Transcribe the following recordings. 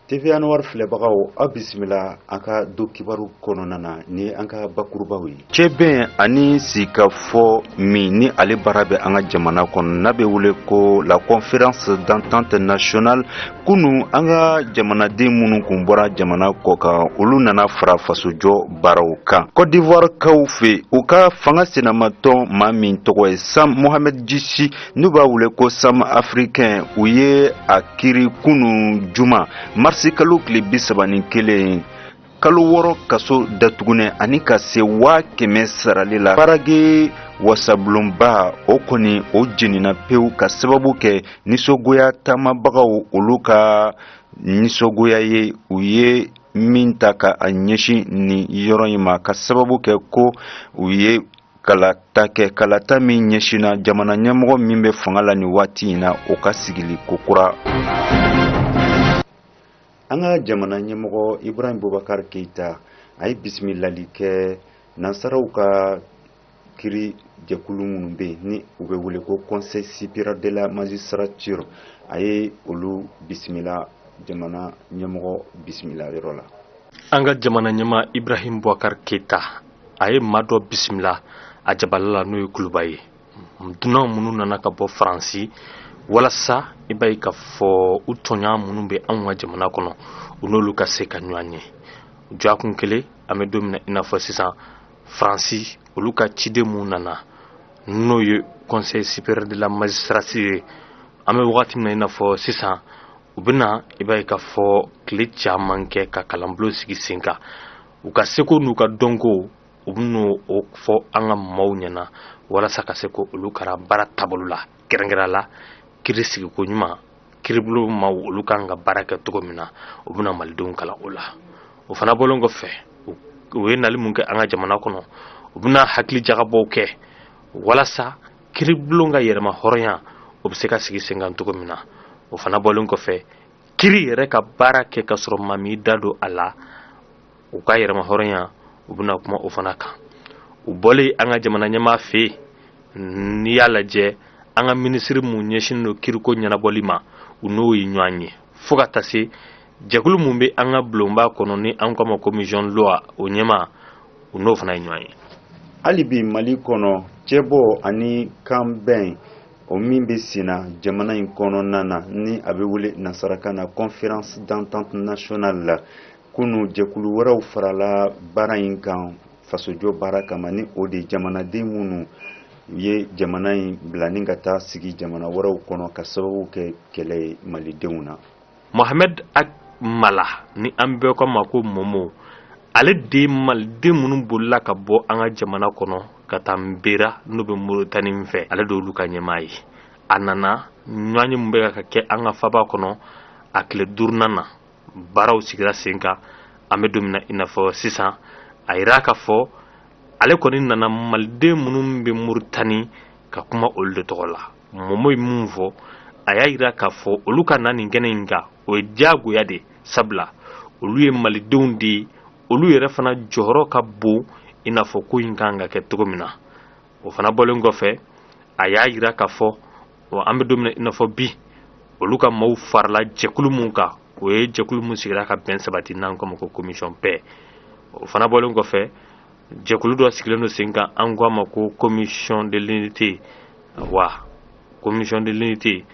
TV Anwar filɛbagaw aw bisimila an ka don kibaru kɔnɔna na ni an ka bakurubaw ye cɛbɛn ani sigikafɔ min ni ale baara bɛ an ka jamana kɔnɔ n'a bɛ wele ko la conférence d'entente nationale kunu an ka jamanaden minnu kun bɔra jamana kɔ kan olu nana fara fasojɔ baaraw kan Côte d'Ivoire kaw fɛ u ka fanga sinamatɔn maa min tɔgɔ ye Sam Mohamed Jichi n'u b'a wele ko sam africain u ye a kiri kunu juma marisi kalo tile bi saba ni kelen kalo wɔɔrɔ kaso datugunnen ani ka se waa kɛmɛ sarali la Paraguay wasabulonba o kɔni o jenina pewu ka sababu kɛ nisɔngoya taamabagaw olu ka nisɔngoya ye u ye min ta ka a ɲɛsin nin yɔrɔ in ma ka sababu kɛ ko u ye kalata kɛ kalata min ɲɛsinna jamana ɲɛmɔgɔ min bɛ fanga la nin waati in na o ka sigili kokura an ka jamana ɲɛmɔgɔ ibrahim boubacar keita a ye bisimilali kɛ nansaraw ka kiri jɛkulu minnu bɛ yen ni u bɛ wele ko conseil supérieur de la magistrature a ye olu bisimila jamana ɲɛmɔgɔ bisimila yɔrɔ la an ka jamana ɲɛmaa ibrahim boubacar keita a ye maa dɔ bisimila a jabala la n'o ye kuluba ye dunan minnu nana ka bɔ faransi walasa i b'a ye k'a fɔ u tɔɲɔgɔn minnu bɛ anw ka jamana kɔnɔ u n'olu ka se ka ɲɔgɔn ye dɔgɔkun kelen an bɛ don min na i n'a fɔ sisan faransi olu ka ciden minnu nana n'o ye conseil supérieur de la magistrature ye an bɛ wagati min na i n'a fɔ sisan u bɛna i b'a ye k'a fɔ tile caman kɛ ka kalanbulon sigi sen kan u ka seko n'u ka dɔnko u bɛn'o fɔ an ka maaw ɲɛna walasa ka se k'olu kalan baara taabolo la kɛrɛnkɛrɛnnenya la kiri sigiko ɲuman kiribulon maaw olu kan ka baara kɛ cogo min na u bɛna malidenw kalan o la o fana bɔlen kɔfɛ u ye nali mun kɛ an ka jamana kɔnɔ u bɛna hakili jagabɔw kɛ walasa kiribulon ka yɛrɛmahɔrɔnya o bɛ se ka sigi sen kan cogo min na o fana bɔlen kɔfɛ kiri yɛrɛ ka baara kɛ ka sɔrɔ maa m'i da don a la u ka yɛrɛmahɔrɔnya u bɛna kuma o fana kan u bɔlen an ka jamana ɲɛmaa fɛ yen n'i y'a lajɛ an ka minisiri mun ɲɛsinnen don kiriko ɲɛnabɔli ma u n'o ye ɲɔgɔn ye fo ka taa se jɛkulu mun bɛ an ka bulonba kɔnɔ ni an k'a ma commission loi o ɲɛmaa u n'o fana ye ɲɔgɔn ye hali bi mali kɔnɔ cɛbɔ ani kanbɛn o min bɛ senna jamana in kɔnɔna na ni a bɛ wele nasarakan na conférence d'entente nationale la kunu jɛkulu wɛrɛw farala baara in kan fasojɔ baara kama ni o de jamanaden minnu ye jamana in bila ni ka taa sigi jamana wɛrɛw kɔnɔ ka sababu kɛ kɛlɛ ye malidenw na mohamɛd ak mala ni an bɛɛ k'a ma ko momo ale de maliden minnu bolila ka bɔ an ka jamana kɔnɔ ka taa nbera n'o bɛ moritani fɛ ale de olu ka ɲɛmaa ye a nana ɲɔgɔnye min bɛ ka kɛ an ka faba kɔnɔ a tile duurunan na baaraw sigira sen kan an bɛ don min na i n'a fɔ sisan a yira k'a fɔ ale kɔni nana maliden minnu bɛ moritani ka kuma olu de tɔgɔ la momo ye mun fɔ a y'a yira k'a fɔ olu ka na nin kɛnɛ in kan o ye diyagoya de sabula olu ye malidenw de ye olu yɛrɛ fana jɔyɔrɔ ka bon i n'a fɔ ko in kan ka kɛ cogo min na o fana bɔlen kɔfɛ a y'a yira k'a fɔ an bɛ don min na i n'a fɔ bi olu ka maaw farala jɛkulu mun kan o ye jɛkulu mun sigira ka bɛn sabati n'an k'o ma ko commission paix o fana bɔlen kɔfɛ jɛkulu dɔ sigilen don sen kan an ko a ma ko commission de l'unité wa commission de l'unité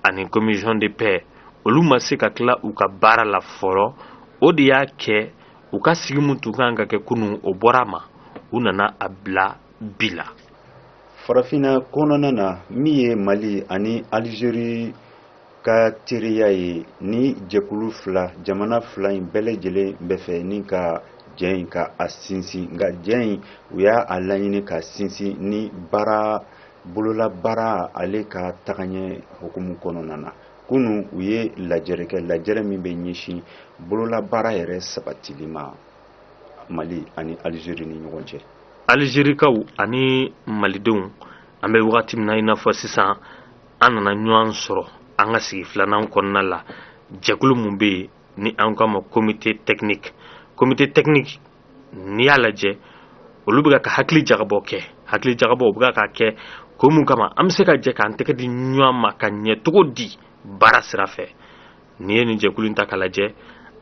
ani commission de paix olu ma se ka tila u ka baara la fɔlɔ o de y'a kɛ u ka sigi mun tun kan ka kɛ kunun o bɔra a ma u nana a bila bi la farafinna kɔnɔna na min ye mali ani alizeri ka teriya ye ni jɛkulu fila jamana fila in bɛɛ lajɛlen bɛ fɛ ni ka jɛ in ka a sinsin nka jɛ in u y'a laɲini ka sinsin ni baara bolola baara ale ka tagaɲɛ hukumu kɔnɔna na kunu u ye lajɛrɛ kɛ lajɛrɛ min bɛ ɲɛsin bolola baara yɛrɛ sabatili ma mali ani alizeri ni ɲɔgɔn cɛ alizerikaw ani malidenw an bɛ wagati min na i n'a fɔ sisan an nana ɲɔgɔn sɔrɔ an ka sigi filanan kɔnɔna la jɛkulu mun bɛ yen ni an k'a ma comité technique comité technique n'i y'a lajɛ olu bɛ ka hakili jagabɔ kɛ hakili jagabɔ u bɛ ka kɛ ko mun kama an bɛ se ka jɛ k'an tɛgɛ di ɲɔgɔn ma ka ɲɛ cogo di baara sira fɛ n'i ye nin jɛkulu in ta k'a lajɛ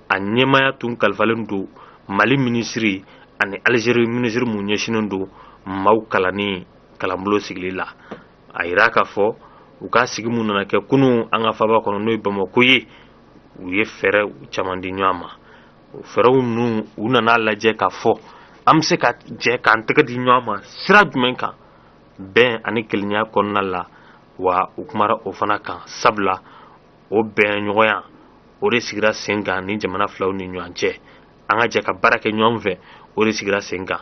a ɲɛmaya tun kalifalen don mali minisiri ani alizeri minisiri mun ɲɛsinnen don maaw kalanni kalanbolo sigili la a yira k'a fɔ u ka sigi mun nana kɛ kunun an ka faba kɔnɔ n'o ye bamakɔ ye u ye fɛɛrɛ caman di ɲɔgɔn ma o fɛɛrɛw ninnu u nana lajɛ k'a fɔ an bɛ se ka jɛ k'an tɛgɛ di ɲɔgɔn ma sira jumɛn kan bɛn ani kelenya kɔnɔna la wa u kumara o fana kan sabula o bɛn ɲɔgɔnya o de sigira sen kan ni jamana filaw ni ɲɔgɔn cɛ an ka jɛ ka baara kɛ ɲɔgɔn fɛ o de sigira sen kan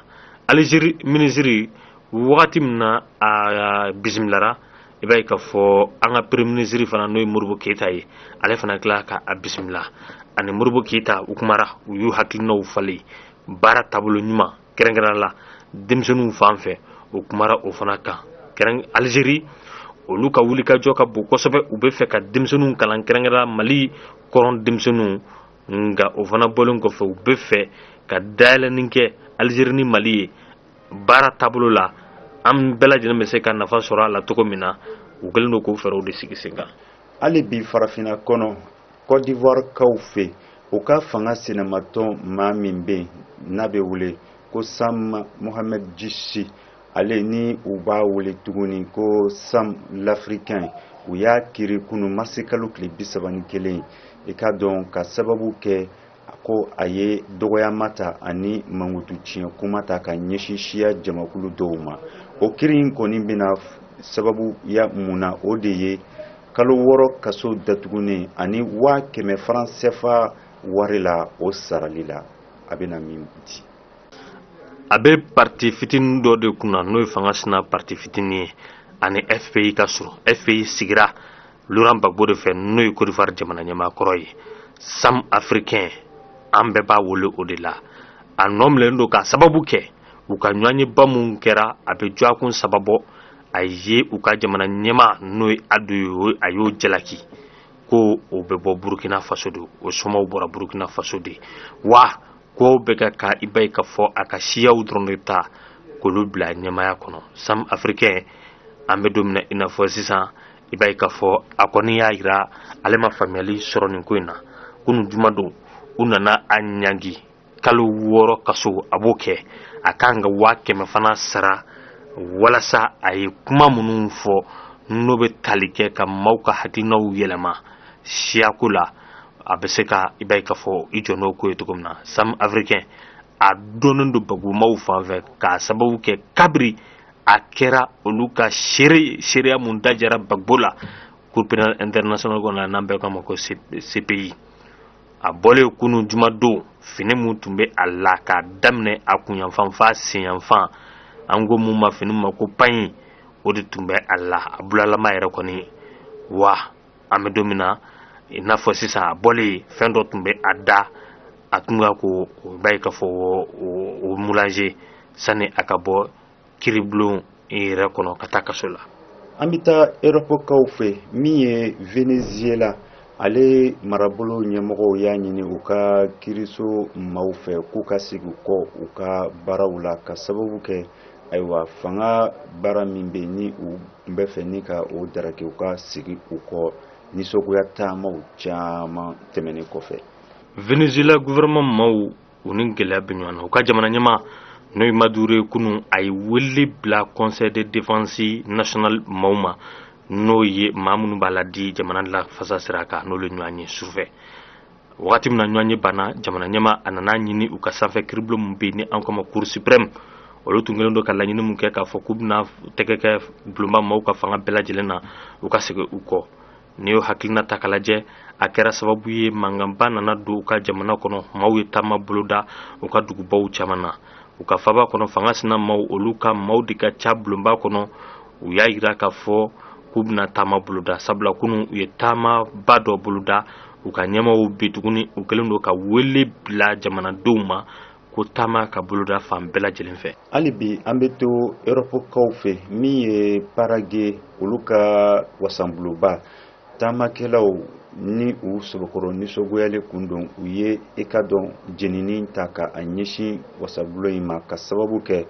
alizeri minisiri wagati min na a bisimilara i b'a ye k'a fɔ an ka premier minisiri fana n'o ye modibo keyita ye ale fana tila ka a bisimila ani modibo keyita u kumara u y'u hakilinaw falen baara taabolo ɲuman kɛrɛnkɛrɛnnenya la denmisɛnninw fan fɛ u kumara o fana kan alizeri olu ka wulikajɔ ka bon kosɛbɛ u bɛ fɛ ka denmisɛnninw kalan kɛrɛnkɛrɛn mali kɔrɔn denmisɛnninw nka o fana bɔlen kɔfɛ u bɛ fɛ ka dayɛlɛnni kɛ alizeri ni mali ye baara taabolo la an bɛɛ lajɛlen bɛ se ka nafa sɔrɔ a la cogo min na u kɛlen don k'o fɛɛrɛw de sigi sen kan hali bi farafinna kɔnɔ cote d'ivoire kaw fɛ u ka fanga sinamatɔn maa min bɛ yen n'a bɛ wele ko sam mohamed jisi ale ni u b'a wele tuguni ko sam l'africain u y'a kiri kunu marisi kalo tile bi saba ni kelen i k'a dɔn k'a sababu kɛ ko a ye dɔgɔyama ta ani mankutu tiɲɛ kuma ta ka ɲɛsin siya jamakulu dɔw ma o kiri in kɔni bɛna sababu ya mun na o de ye kalo wɔɔrɔ kaso datugunen ani waa kɛmɛ faran sɛfa wari la o sarali la a bɛna min di a bɛ parti fitinin dɔ de kun na n'o ye fanga sina parti fitinin ye a ni fpi ka surun fpi sigira laurent gbagbo de fɛ n'o ye cote d'ivoire jamana ɲɛmaakɔrɔ ye sam africain an bɛɛ b'a wele o de la a nɔ minɛlen don k'a sababu kɛ u ka ɲɔgɔnyeba mun kɛra abijan kɔnɔ sababu a ye u ka jamana ɲɛmaa n'o ye ado ye a y'o jalaki ko o bɛ bɔ burukina faso de o somaw bɔra burukina faso de wa k'o bɛ ka ka i b'a ye k'a fɔ a ka siyaw dɔrɔn de ta k'olu bila ɲɛmaaya kɔnɔ sam africain an bɛ don min na i n'a fɔ sisan i b'a ye k'a fɔ a kɔni y'a jira ale ma faamuyali sɔrɔ nin ko in na kunu juma don u nana a ɲangi kalo wɔɔrɔ kaso a b'o kɛ a kan ka waa kɛmɛ fana sara walasa a ye kuma minnu fɔ n'o bɛ tali kɛ ka maaw ka hakilinaw yɛlɛma siyako la a bɛ se ka i b'a ye k'a fɔ i jɔ n'o ko ye cogo min na sam africain a dɔnnen don gbagbo maaw fan fɛ k'a sababu kɛ kabiri a kɛra olu ka seere seereya mun dajira gbagbo la cour pénale internationale kɔnɔ n'an bɛɛ k'a ma ko cpi a bɔlen kunu jumadon fini mun tun bɛ a la k'a daminɛ a kunyanfan f'a senyanfan an ko mun ma fini ma ko paɲi o de tun bɛ a la a bulalama yɛrɛ kɔni wa an bɛ don min na i n'a fɔ sisan a bɔlen fɛn dɔ tun bɛ a da a tun ka ko o b'a ye k'a fɔ o mulaze sani a ka bɔ kiribulon yɛrɛ kɔnɔ ka taa kaso la an bɛ taa erɔpɔkaw fɛ min ye venezuela ale marabolo ɲɛmɔgɔw y'a ɲini u ka kiriso maaw fɛ k'u ka segin kɔ u ka baaraw la ka sababu kɛ ayiwa fanga baara min bɛ ni u n bɛ fɛ ni ka o daraki u ka segin u kɔ nisɔngoya taamaw caman tɛmɛnen kɔfɛ venezuela gouvernement maaw u ni gɛlɛya bɛ ɲɔgɔn na u ka jamana ɲɛmaa n'o ye maduro ye kunu a ye wele bila conseil de défense national maaw ma n'o ye maa minnu b'a laadi jamana lafasa sira kan n'olu ɲɔgɔn ye sufɛ wagati min na ɲɔgɔnye banna jamana ɲɛmaa a nana a ɲini u ka sanfɛ kiribulon min bɛ yen ni an k'a ma cour supreme olu tun kɛlen don ka laɲini min kɛ k'a fɔ k'u bɛna tɛgɛ kɛ bulonba maaw ka fanga bɛɛ lajɛlen na u ka segin u kɔ n'i y'o hakilina ta k'a lajɛ a kɛra sababu ye mankanba nana don u ka jamana kɔnɔ maaw ye taama boloda u ka dugubaw caman na u ka faba kɔnɔ fanga sinamaaw olu ka maaw de ka ca bulonba kɔnɔ u y'a jira k'a fɔ k'u bɛna taama boloda sabula kunu u ye taamaba dɔ boloda u ka ɲɛmaaw bi tuguni u kɛlen don ka wele bila jamanadenw ma ko taama ka boloda fan bɛɛ lajɛlen fɛ hali bi an bɛ to erɔpɔkaw fɛ min ye paraguay olu ka wasabulonba taamakɛlaw ni u sɔbɛkɔrɔ nisɔngoyalen kun don u ye i ka dɔn jenini ta ka a ɲɛsin wasabulon in ma ka sababu kɛ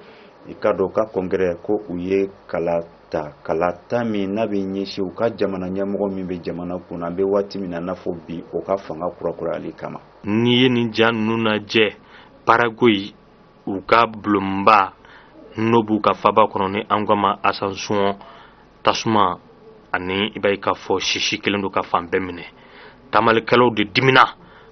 i ka dɔn ka congrès ko u ye kala ta kalata min n'a bɛ ɲɛsin u ka jamana ɲɛmɔgɔ min bɛ jamana kunna an bɛ waati min na n'a fɔ bi o ka fanga kurakurayali kama n'i ye nin ja ninnu lajɛ paraguay u ka bulonba n'o b'u ka faba kɔnɔ ni an k'a ma asuncion tasuma ani i b'a ye k'a fɔ sisi kɛlen don ka fan bɛɛ minɛ taamalikɛlaw de dimina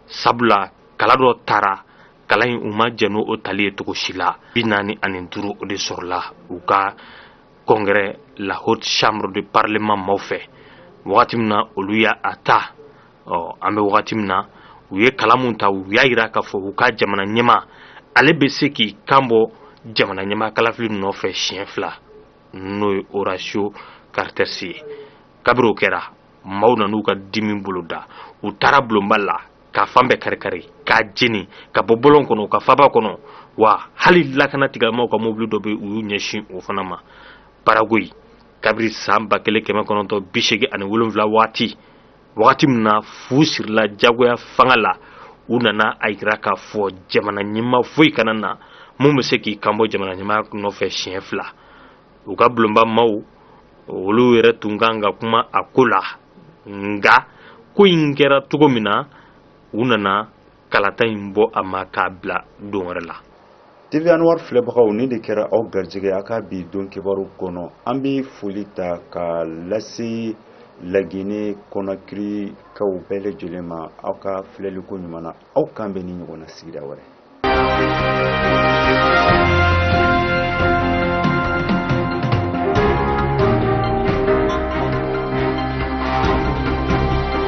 sabula kala dɔ tara kala in u ma jɛn ni o tali ye cogo si la bi naani ani duuru o de sɔrɔla u ka congrès la haute chambre de parlement maaw fɛ wagati min na olu y'a ta ɔ an bɛ wagati min na u ye kala min ta u y'a yira k'a fɔ u ka jamana ɲɛmaa ale bɛ se k'i kan bɔ jamana ɲɛmaa kalafili nɔfɛ siɲɛ fila n'o ye horacio cartes ye kabiri o kɛra maaw nan'u ka dimi boloda u taara bulonba la k'a fan bɛɛ karikari k'a jeni ka bɔ bɔlɔn kɔnɔ ka faba kɔnɔ wa hali lakana tigilamaaw ka mobili dɔ bɛ u y'u ɲɛsin o fana ma paraguay kabiri san ba kelen kɛmɛ kɔnɔntɔn bi seegin ani wolonwula waati wagati min na fu sirila jagoya fanga la u nana a jira k'a fɔ jamana ɲɛmaa foyi kana na mun bɛ se k'i kanbɔ jamana ɲɛmaa nɔfɛ siɲɛ fila u ka bulonba maaw olu yɛrɛ tun ka kan ka kuma a ko la nka ko in kɛra cogo min na u nana kalata in bɔ a ma k'a bila don wɛrɛ la TV Anwar filɛbagaw nin de kɛra aw garijɛgɛ a ka bi don kibaru kɔnɔ an bɛ foli ta ka lase lagine kɔnakirikaw bɛɛ lajɛlen ma aw ka filɛliko ɲuman na aw k'an bɛn nin ɲɔgɔn na sigida wɛrɛ